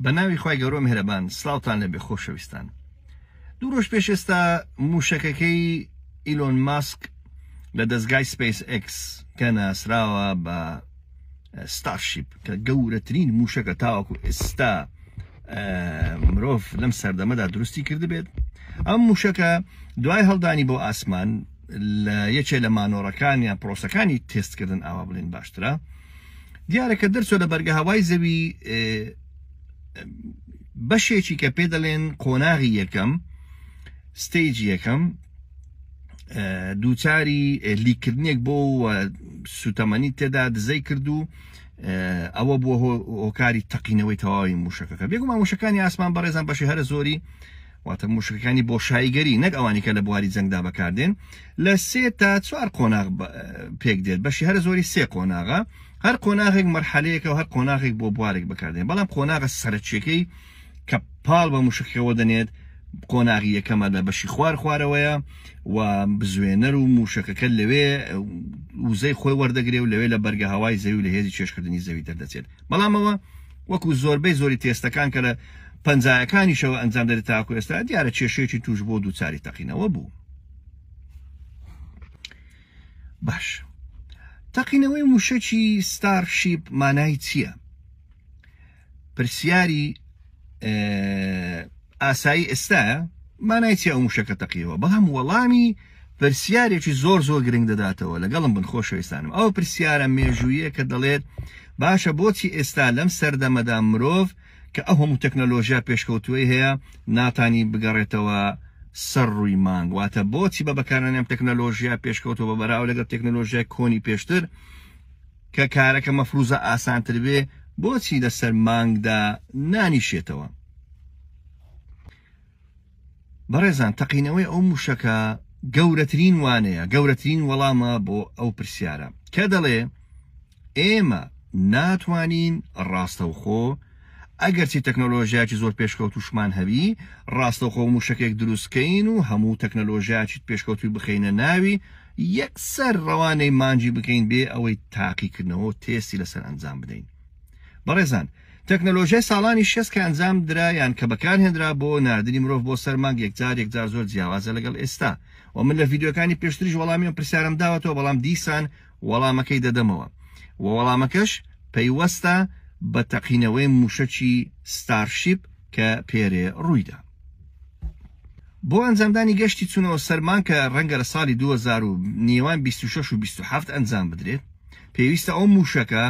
بەناوی خی گەورۆ مهرەبان سلااوان لەبێ خۆشەویستان دوو ڕۆژ پێش ئێستا موشەکەکەی ئیلۆن ماسک لە دەستگای سپیس X کە ناسراوە بە ستارشیپ کە گەورەترین موشەکە تاوەکو ئێستا مرۆڤ لەم سەردەمەدا دروستی کردبێت ئەم موشەکە دوای هەڵدانی بۆ ئاسمان لە یەکێ لە مانۆڕەکان یا پرۆسەکانی تستکردن ئاوا بڵین باشترە دیارە کە دەرچوە لە بەرگەهەوای زەوی بەشێکی کە پێ دەڵێن قۆناغی یەکەم ستەیج یەکەم دووچاری لیکردنێک بۆ سوتەمەنی تێدا دزەی کردو ئەوە بووە هۆکاری تەقینەوەی تەواوی موشەکەەکە بێگومان موشەکانی ئاسمان بەڕێزان بەشی هەرە زۆری واتە موشکەکانی بۆشاییگەری نەک ئەوانی کە لە بواری جەنگدا بەکاردێن لە سێ تا چوار قۆناغ پێک دێت بەشی هەرە زۆری سێ قۆناغە هەر قۆناغێک مەرحەلەیەکە و هەر قۆناغێک بۆ بوارێک بەکاردێن بەڵام قۆناغە سەرچیەکەی کە پاڵ بە موشکەوە دەنێت قۆناغی یەکەمە لە بەشی خوار خوارەوەیە و بزوێنەر و موشەکەکە لەوێ وزەی خۆی وەردەگرێ و لەوێ لە بەرگە هەوای زەوی لە هێزی چێشکردنی زەوی دەردەچێت بەڵام ئەوە وەکو زۆربەی زۆری تێستەکان کە لە پەنجایەکانیشەوە ئەنجام دەێت تاکو ئێستا دیارە کێشەیەکی توش بۆ دووچاری تەقینەوە بوو باش تەقینەوەی موشەکی ستارشیپ مانای چییە؟ پرسیاری ئاسایی ئێستاە مانای چی ئەو موشەکە تەقیەوە بەڵام وەڵامی پرسیارێکی زۆر زۆر گرنگ دەداتەوە لەگەڵم بن خۆشەویستانم ئەو پرسیارە مێژوویە کە دەڵێت باشە بۆچی ئێستا لەم سەردەمەدا مرۆڤ کە ئەو هەموو تەکنەلۆژیا پێشکەوتوی هەیە ناتانی بگەڕێتەوە سەر ڕووی مانگ واتە بۆچی بە بەکارانیان تەکنەلۆژیا پێشکەوتەوە بەراو لەگەڵ تەکنەلۆژیای کۆنی پێشتر کە کارەکە مەفروزە ئاسانتر بێ بۆچی لەسەر مانگدا نانیشێتەوە بەڕێزان تەقینەوەی ئەو موشەکە گەورەترین وانەیە گەورەترین وەڵامە بۆ ئەو پرسیارە کە دەڵێ ئێمە ناتوانین ڕاستەوخۆ خۆ ئەگەرچی تەکنەلۆژیایەکی زۆر پێشکەوتووشمان هەبی، ڕاستەوخۆ مووشەکێک دروست کەین و هەموو تەکنەلۆژیایەکی پێشکەوتووی بخەینە ناوی، یەکسەر ڕەوانەی مانگی بکەین بێ ئەوەی تاقیکردنەوە و تێستی لەسەر ئەنجام بدەین. بەڕێزان، تەکنەلۆژیای ساڵانی شێست کە ئەنجام درا یان کە بەکارهێنرا بۆ ناردنی مرۆڤ بۆ سەر مانگ یەکجار یەکجار زۆر جیاوازە لەگەڵ ئێستا و من لە ڤیدیۆکانی پێشتریش وەڵامی ئەم پرسیارەم داوەتەوە بەڵام دیسان وەڵامەکەی دەدەمەوە و وەڵامەکەش پەیوەستە بە تەقینەوەی مووشەکی ستارشیپ کە پێرێ ڕوویدا. بۆ ئەنجامدانی گەشتی چونەوە سەر مانگ کە ڕەنگە لە ساڵی دوو هەزار و نێوان بیست و شەش و بیست و حەفت ئەنجام بدرێت، پێویستە ئەو مووشەکە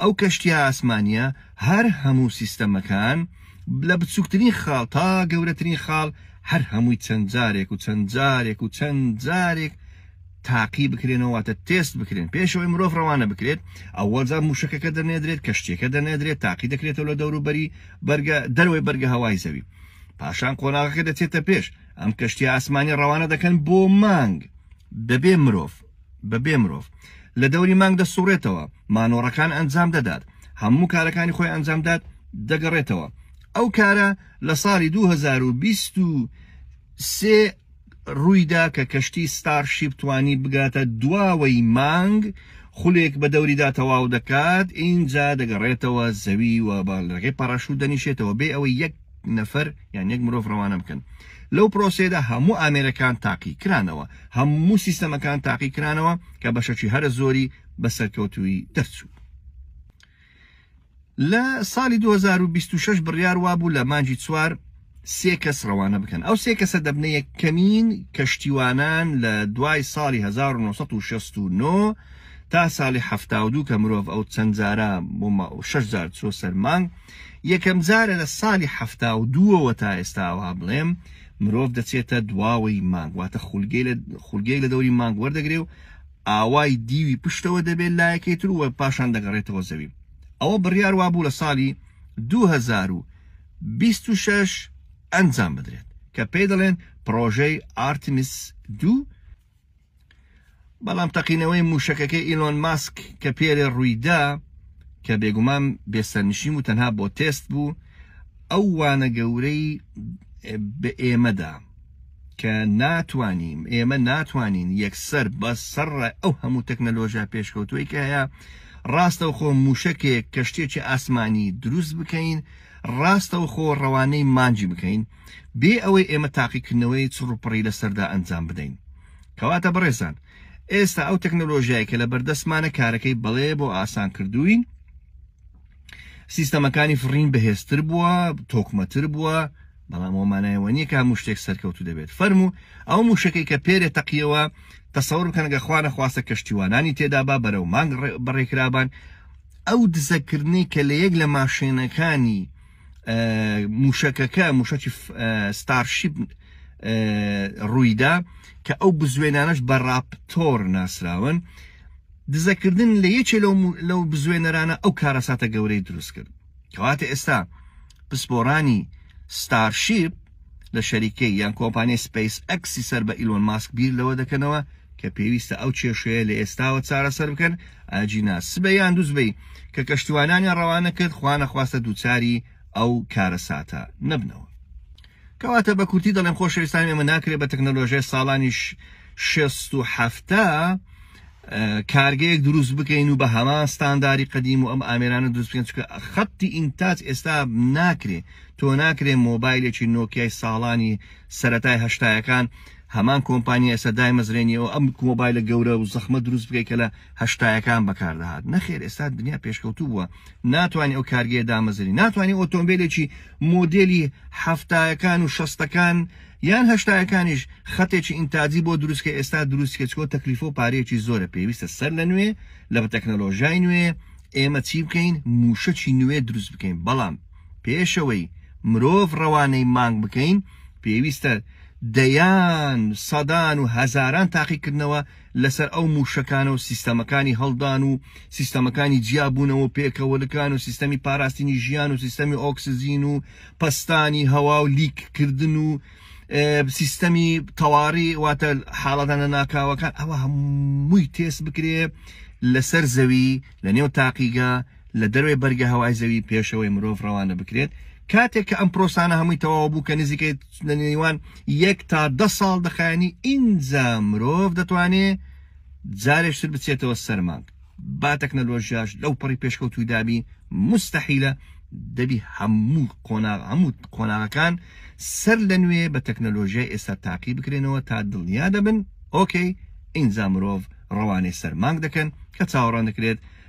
ئەو کەشتیە ئاسمانیە هەر هەموو سیستەمەکان لە بچوکترین خاڵ تا گەورەترین خاڵ هەر هەمووی چەند جارێک و چەند جارێک و چەند جارێک تاقی بکرێنەوەواتە تێست بکرێن پێشەوەی مرۆڤ ڕەوانە بکرێت ئەوەجا موشەکەکە دەنێدرێت کەشتێکە دەنێدرێت تاقی دەکرێتەوە لە دەوروبەری بەرگە دەروی بەرگە هەوای زەوی پاشان قۆناغەکە دەچێتە پێش ئەم کەشتی ئاسمانی ڕەوانە دەکەن بۆ مانگ دەبێ مرۆڤ بەبێ مرۆڤ لە دەوری مانگ دەسوڕێتەوە، مانۆڕەکان ئەنجام دەدات، هەموو کارەکانی خۆی ئەنجام دات، دەگەڕێتەوە. ئەو کارە لە ساڵی دوو هەزار و بیست و سێ ڕوویدا کە کەشتی ستار شیپ توانی بگاتە دواوەی مانگ، خولێک بە دەوریدا تەواو دەکات، ئینجا دەگەڕێتەوە زەوی و بە ڕێگەی پاراشوت دەنیشێتەوە بێ ئەوەی یەک نەفەر یان یەک مرۆڤ ڕەوانە بکەن لەو پرۆسێدا هەموو ئامێرەکان تاقی کرانەوە هەموو سیستەمەکان تاقی کرانەوە کە بەشەکی هەرە زۆری بە سەرکەوتوی دەرچوو لە ساڵی 2026 بڕیار وابوو لە مانجی چوار سێ کەس ڕەوانە بکەن ئەو سێ کەسە دەبنە یەکەمین کەشتیوانان لە دوای ساڵی 1969 تا ساڵی هەفتاودوو کە مرۆڤ ئەو چەندجارە بۆ شش جار چۆ سەرمانگ یەکەم جارە لە ساڵی حەفتا و دووەوە تا ئێستا وا بڵێم مرۆڤ دەچێتە دواوەی مانگ واتە خولگەی لە دەوری مانگ وەردەگرێ و ئاوای دیوی پشتەوە دەبێت لایەکەی تر و پاشان دەگەڕێتەوە زەوی ئەوە بڕیار وا بوو لە ساڵی 2026 ئەنجام بدرێت کە پێی دەڵێن پرۆژەی ئارتمیس دوو بەڵام تەقینەوەی مووشەکەکەی ئیلۆن ماسک کە پێرێ ڕوویدا کە بێگومان بێسەرنشیم و تەنها بۆ تێست بوو ئەو وانە گەورەی بە ئێمەدا کە ناتوانین ئێمە ناتوانین یەکسەر بە سەر ئەو هەموو تەکنەلۆژیا پێشکەوتوی کە هەیە ڕاستە خۆ مووشەکێک کەشتێکی ئاسمانی دروست بکەین ڕاستە خۆ ڕەوانەی مانجی بکەین بێ ئەوەی ئێمە تاقیکردنەوەی چڕوپڕی لەسەردا ئەنجام بدەین. کەواتە بەڕێزان، ئێستا ئەو تەکنەلۆژیای کە لەبەردەستمانە کارەکەی بەڵێ بۆ ئاسان کردووین، سیستەمەکانی فڕین بەهێزتر بووە، تۆکمەتر بووە، بەڵام ئەوە مانای ئەوە نییە کە هەموو شتێک سەرکەوتوو دەبێت. فەرموو ئەو مووشەکەی کە پێرێ تەقیەوە، تەسەور بکەن گە خوا نەخواستە کەشتیوانانی تێدابا بەرەو مانگ بەڕێکرابان، ئەو دزەکردنەی کە لە یەک لە ماشێنەکانی موشەکەکە موشەکی ستارشیب ڕوویدا کە ئەو بزوێنانەش بە ڕاپتۆر ناسراون دزەکردن لە یەکێ لەو بزوێنەرانە ئەو کارەساتە گەورەی دروست کرد کەواتە ئێستا پسپۆرانی ستارشیب لە شەریکەی یان کۆمپانیای سپەیس ئەکسی سەر بە ئیلۆن ماسک بیر لەوە دەکەنەوە کە پێویستە ئەو کێشەیە لە ئێستاوە چارەسەر بکەن ئاجینا سبەی یان دووسبەی کە کەشتیوانیان ڕەوانە کرد خوانەخواستە دووچاری ئەو کارەساتە نەبنەوە کەواتە بە کورتی دەڵێن خۆشەویستان ئێمە ناکرێت بە تەکنەلۆژێ ساڵانیش شێست و حەفتا کارگەیەک دروست بکەین و بە هەمان ستانداری قدیم و ئەم ئامێرانە دروست بکەین چکە خەتی ئینتاج ئێستا ناکرێ تۆ ناکرێ مۆبایلێکی نۆکیای ساڵانی سەتای هەشتایەکان هەمان کۆمپانیا ئێستا دایمەزرێنی و ئەم کۆمۆبایلە گەورە و زەخمە دروست بکەی کە لە هەشتایەکان بەکاردەهات نەخێر ئێستا دنیا پێشکەوتوو بووە ناتوانانی ئەو کارگەیە دامەزری ناتوانانی ئۆتۆمبیلێکی مۆدلی هەفتایەکان و شەستەکان یان هەشتایەکانیش خەتێکی ئینتاجی بۆ دروست کە ئێستا دروست کە چکۆ تەکلیفە و پارەیەکی زۆرە پێویستە سەر لە نوێ لە تەکنەلۆژای نوێ ئێمە چی بکەین موشەکی نوێ دروست بکەین بەڵام پێشەوەی مرۆڤ ڕەوانەی مانگ بکەین پێویستە دەیان سەدان و هەزاران تاقیکردنەوە لەسەر ئەو مووشەکانە و سیستەمەکانی هەڵدان و سیستەمەکانی جیابوونەوە و پێکەوەلکان و سیستەمی پاراستنی ژیان و سیستەمی ئۆکسجین و پەستانی هەوا و لیککردن و سیستەمی تەواڕی واتە حاڵەتانە ناکاوەکان ئەوە هەمووی تێست بکرێ لەسەر زەوی لە نێو تاقیگە لە دەرەوەی بەرگە هەوای زەوی پێشەوەی مرۆڤ ڕەوانە بکرێت، کاتێک کە ئەم پرۆسانە هەمووی تەواو بوو کە نزیکەی لە نێوان یەک تا دە ساڵ دەخایەنی ئینجا مرۆڤ دەتوانێ جارێش تر بچێتەوە سەر مانگ با تەکنەلۆژیاش لەو پەڕی پێشکەوتوی دابی مستحیلە دەبی هەموو قۆناغ هەموو قۆناغەکان سەر لە نوێ بە تەکنەلۆژیای ئێستا تاقی بکرێنەوە تا دڵنیا دەبن ئۆکەی ئینجا مرۆڤ ڕەوانەی سەر مانگ دەکەن کە چاوەڕان دەکرێت